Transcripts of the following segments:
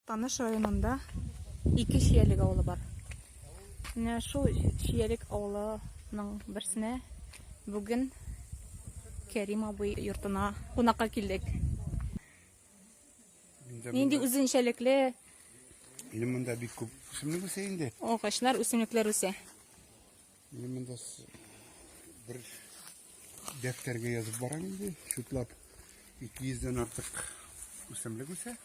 Таныш районында ике Чиялек авылы бар. Менә шул Чиялек авылының берсенә бүген Кәрим абый йортына кунакка килдек. Нинди үзенчәлекле Минем монда бик күп үсемлек үсә инде. Агачлар, үсемлекләр үсә. Менә монда бер дәфтәргә язып барам инде. Чутлап 200 дән артык үсемлек үсә.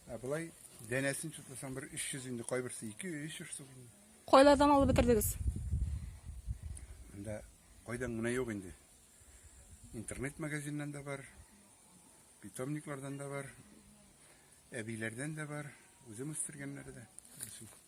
Ә болай дәнәсен чутласаң бер 300 инде, кайберсе 2-3 штук. Кайлардан алып бетердегез? Монда кайдан гына юк инде. Интернет магазиннан да бар, питомниклардан да бар, әбиләрдән дә бар, үзем үстергәннәре дә.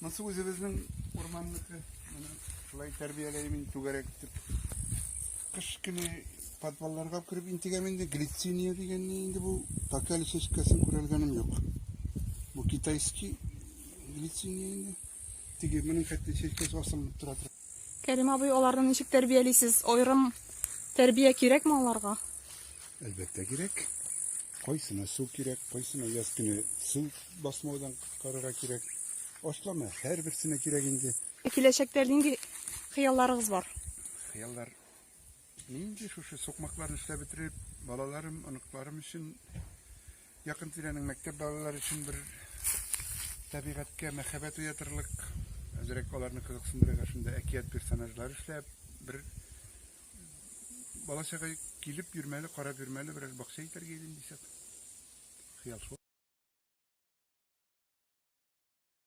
Монсы үзебезнең урманныкы. Менә шулай тәрбияләйм мин түгәрәк итеп. Кыш көне подвалларга кереп интегәм инде. Глициния дигәнне инде бу пока әле чәчкәсен күрәлгәнем юк. Бу китайский глициния инде. Теге моның хәтта чәчкәсе асылынып тора. Кәрим абый, аларны ничек тәрбиялисез? Аерым тәрбия кирәкме аларга? Әлбәттә кирәк. Кайсына су кирәк, кайсына яз көне су басмаудан коткарырга кирәк. Ашлама һәрберсенә кирәк инде. Киләчәктә нинди хыялларыгыз бар? Хыяллар нинди шушы сукмакларны эшләп бетереп, балаларым, оныкларым өчен якын тирәнең мәктәп балалары өчен бер табигатькә мәхәббәт уятырлык, әзрәк аларны кызыксындырырга шунда әкият персонажлар эшләп, бер Бала чага килеп йөрмәле, карап йөрмәле, берәр бакча итәргә идем дисәк. Хыял шул.